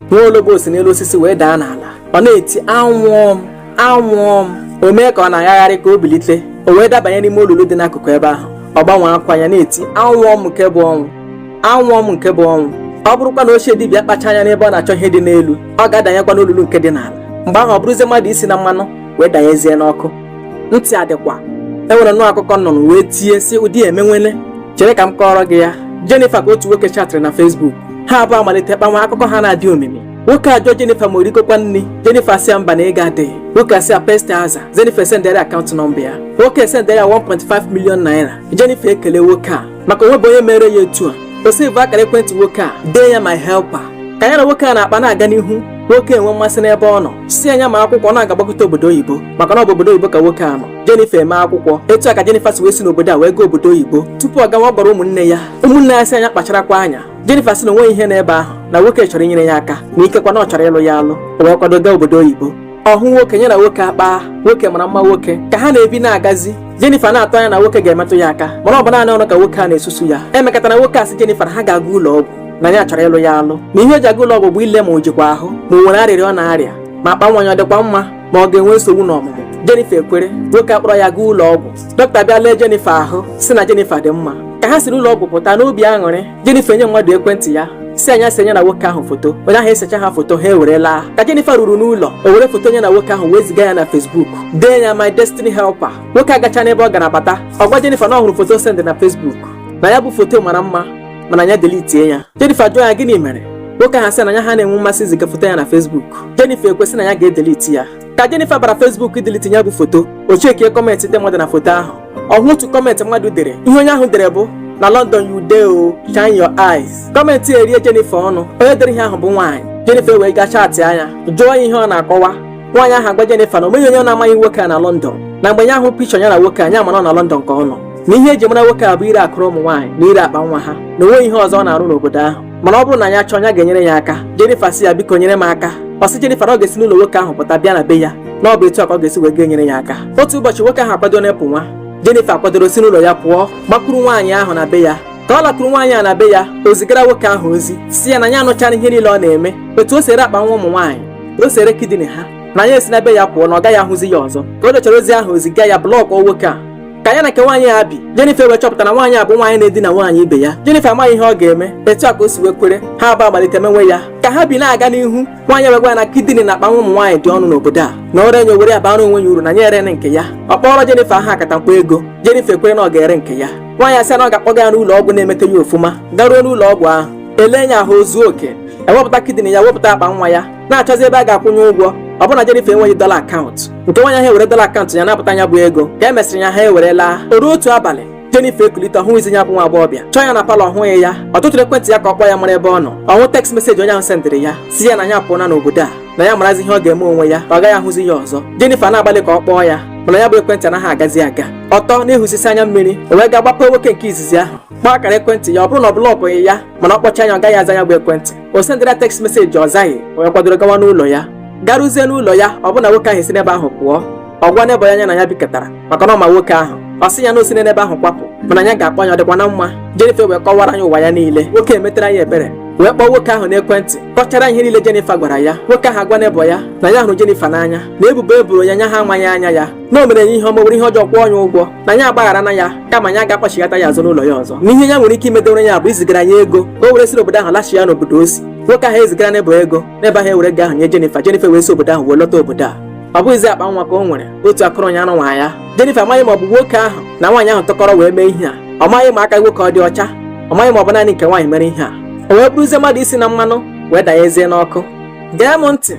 nwa ologbo si n'elu osisi wee daa n'ala ọ na-eti anwụọ m anwụọ m o mee ka ọ na-agagharị ka o bilite o wee dabanye n'ime olulu dị n'akụkụ ebe ahụ ọ gbanwe akwa ya na-eti anwụọ m nke bụ ọnwụ ọ bụrụkwa na ochie dibịa akpacha anya n'ebe ọ na-achọ ihe dị n'elu ọ ga-adanyekwa n'olulu nke dị n'ala mgbe ahụ ọ bụrụzie mmadụ isi na mmanụ wee danyezie n'ọkụ ntị adịkwa enwere nnọọ akụkọ m nụrụ wee tie sị ụdị emenwele chere ka m kọọrọ gị ya Jennifer ka otu nwoke chatịrị na Facebook ha abụọ amalite kpanwe akụkọ ha na-adị omimi nwoke ajụọ Jennifer ma o rigokwa nri Jennifer asị ya mba na ego adịghị nwoke asị ya pesti aza Jennifer esendere akaụntụ nọmba ya nwoke esendere ya 1.5 million naira Jennifer ekele nwoke a maka o nwebeghị onye mere ya etu a o sevuo akara ekwentị nwoke a dee ya my helper ka ya na nwoke a na-akpa na-aga n'ihu nwoke enwee mmasị n'ebe ọ nọ sị ya nya mee akwụkwọ na ọ ga-agbagota obodo oyibo maka na ọ bụ obodo oyibo ka nwoke a nọ Jennifer emee akwụkwọ etu a ka Jennifer si wee si n'obodo a wee gaa obodo oyibo tupu ọ gawa ọ gwara ụmụnne ya ụmụnne ya asị ya nya kpacharakwa anya Jennifer sị na onweghị ihe n'ebe ahụ na nwoke chọrọ inyere ya aka na ikekwa na ọ chọrọ ịlụ ya alụ o wee kwado gaa obodo oyibo ọ hụ nwoke ya na nwoke akpaa nwoke mara mma nwoke ka ha na-ebi na-agazi Jennifer na-atụ anya na nwoke ga-emetụ ya aka mana ọ bụ naanị ọnụ ka nwoke a na-esusu ya e mekata na nwoke asị Jennifer ha ga-aga ụlọ ọgwụ na ya chọrọ ịlụ ya alụ na ihe o ji aga ụlọ ọgwụ bụ ile ma o jikwa ahụ ma o nwere arịrịa ọ na-arịa ma akpa nwa ya ọ dịkwa mma ma ọ ga-enwe nsogbu n'ọmụmụ Jennifer ekwere nwoke akpọrọ ya gaa ụlọ ọgwụ dọkịta bịa lee Jennifer ahụ sị na Jennifer dị mma ka ha siri ụlọ ọgwụ pụta n'obi aṅụrị Jennifer enye mmadụ ekwentị ya sị ya nya see nya na nwoke ahụ foto onye ahụ esecha ha foto ha ewere laa ka Jennifer ruru n'ụlọ o were foto nya na nwoke ahụ wee ziga ya na Facebook dee ya my destiny helper nwoke agacha n'ebe ọ gara bata ọ gwa Jennifer na ọ hụrụ foto o send na Facebook na ya bụ foto mara mma mana ya delitie ya Jennifer jụọ ya gịnị mere nwoke ahụ sị na ya ha na-enwe mmasị iziga foto ya na Facebook Jennifer ekwe sị na ya ga-edeliti ya ka Jennifer bara Facebook ideliti ya bụ foto o chekie kọmentị ndị mmadụ na foto ahụ ọ hụ otu kọmentị mmadụ dere ihe onye ahụ dere bụ na London you dey o shine your eyes kọmentị erie Jennifer ọnụ onye dere ihe ahụ bụ nwaanyị Jennifer wee gaa chaatịa nya jụọ ya ihe ọ na-akọwa nwaanyị ahụ agwa Jennifer na onweghị onye na-amaghị nwoke a na London na mgbe ya hụrụ pichọ ya na nwoke a nya amara na ọ na London ka ọ nọ na ihe eji mara nwoke a bụ ire akụrụ ụmụ nwaanyị na ire akpa nwa ha na onweghị ihe ọzọ ọ na-arụ n'obodo ahụ mana ọ bụrụ na ya chọọ ya ga-enyere ya aka Jennifer sị ya biko nyere m aka ọ sị Jennifer na ọ ga-esi n'ụlọ nwoke ahụ pụta bịa na be ya na ọ bụ etu a ka ọ ga-esi wee ga-enyere ya aka otu ụbọchị nwoke ahụ akwado na-apụ nwa Jennifer kwadoro si n'ụlọ ya pụọ gbakwuru nwaanyị ahụ na be ya ka ọ lakwuru nwaanyị a na be ya o zigara nwoke ahụ ozi sị ya na ya anụchara ihe niile ọ na-eme otu o si ere akpa nwa ụmụ nwaanyị o si ere kidini ha na ya esi na be ya pụọ na ọ gaghị ahụzi ya ọzọ ka o dechara ozi ahụ o ziga ya blọkụọ nwoke a ka ya na nke nwaanyị a bi Jennifer wee chọpụta na nwaanyị a bụ nwaanyị na-edina nwaanyị ibe ya Jennifer amaghị ihe ọ ga-eme etu a ka o si wee kwere ha abụọ amalite menwe ya ka ha bi na-aga n'ihu nwaanyị wee gwa ya na kidini na akpa nwa ụmụ nwaanyị dị ọnụ n'obodo a na o ree nya o were ya bara onwe ya uru na ya ere nke ya ọ kpọrọ Jennifer aha akatamkpo ego Jennifer ekwere na ọ ga-ere nke ya nwaanyị asị na ọ ga-akpọga ya n'ụlọ ọgwụ na-emete ya ọfụma garuo n'ụlọ ọgwụ ahụ elee ya ahụ o zuo oke ewepụta kidney ya wepụta akpa nwa ya na-achọzi ebe a ga-akwụnye ụgwọ ọ bụrụ na Jennifer enweghị dọla akaụntụ nke nwaanyị ahụ ewere dọla akaụntụ ya napụta ya bụ ego ka e mesịrị ya ha ewere laa o ruo otu abalị Jennifer ekulite ọ hụghịzi ya bụ nwa agbọghọbịa chọọ ya na palọ ọ hụghị ya ọ tụtụrụ ekwentị ya ka ọ kpọọ ya mara ebe ọ nọ ọ hụ text meseji onye ahụ sendịrị ya sị ya na ya apụọna n'obodo a na ya marazi ihe ọ ga-eme onwe ya na ọ gaghị ahụzi ya ọzọ Jennifer na-agbalị ka ọ kpọọ ya mana ya bụ ekwentị anaghị agazi aga ọ tọ na-ehusisi anya mmiri o wee gaa gbapee nwoke nke izizi ahụ kpọọ akara ekwentị ya ọ bụrụ na ọ blọkụghị ya mana ọ kpọchaa ya ọ gaghị aza ya bụ ekwentị o sendịrị ya tekst meseji ọ zaghị o wee kwadoro gawa n'ụlọ ya garuzie n'ụlọ ya ọ bụrụ na nwoke ahụ esi n'ebe ahụ pụọ ọ gwa neighbour ya na ya bikọtara maka na ọ ma nwoke ahụ ọ sị ya na o si n'ebe ahụ kwapụ mana ya ga-akpọ ya ọ dịkwa na mma Jennifer wee kọwara ya ụwa ya niile nwoke emetara ya ebere wee kpọọ nwoke ahụ n'ekwentị kọchara ihe niile Jennifer gwara ya nwoke ahụ agwa neighbour ya na ya hụrụ Jennifer n'anya na ebubo e boro ya nya ha amaghị anya ya na o mere ya ihe ọma were ihe ọjọọ kwụọ ya ụgwọ na ya agbagharana ya kama ya agaghị akpọchighata ya azụ n'ụlọ ya ọzọ na ihe ya nwere ike imedewere ya bụ izigara ya ego ka o were si obodo ahụ lachie n'obodo o si nwoke ahụ ezigara neighbour ego neighbour ahụ ewere ego ahụ nye Jennifer Jennifer wee si obodo ahụ wee lọta obodo a ọ bụghịzi akpa nwa ka o nwere otu akụrụ ya ahụ nwa ya Jennifer amaghị ma ọ bụ nwoke ahụ na nwaanyị ahụ tụkọrọ wee mee ihe a ọ maghị ma aka nwoke ọ dị ọcha ọ maghị ma ọ bụ naanị nke nwaanyị mere ihe a o wee bụrụzie mmadụ isi na mmanụ wee danyezie n'ọkụ gee m ntị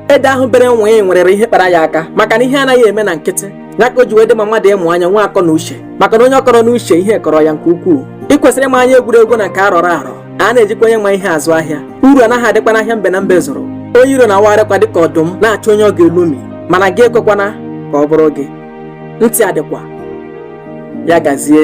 ede ahụ bere nwịị nwerịrị ihe kpara ya aka maka na ihe anaghị eme na nkịtị ya ka o ji wee dị mma mmadụ ịmụ anya nwee akọ na uche maka na onye ọ kọrọ n'uche ihe kọrọ ya nke ukwuu ị kwesịrị ịma anya egwuregwu na nke a rọrọ arọ a na-ejikwa onye ma ihe azụ ahịa uru anaghị adịkwa n'ahịa mbe na mbe zụrụ onye iro na-awagharịkwa dịka ọdụm na-achọ onye ọ ga-elomi mana gị ekwekwana ka ọ bụrụ gị ntị adịkwa ya gazie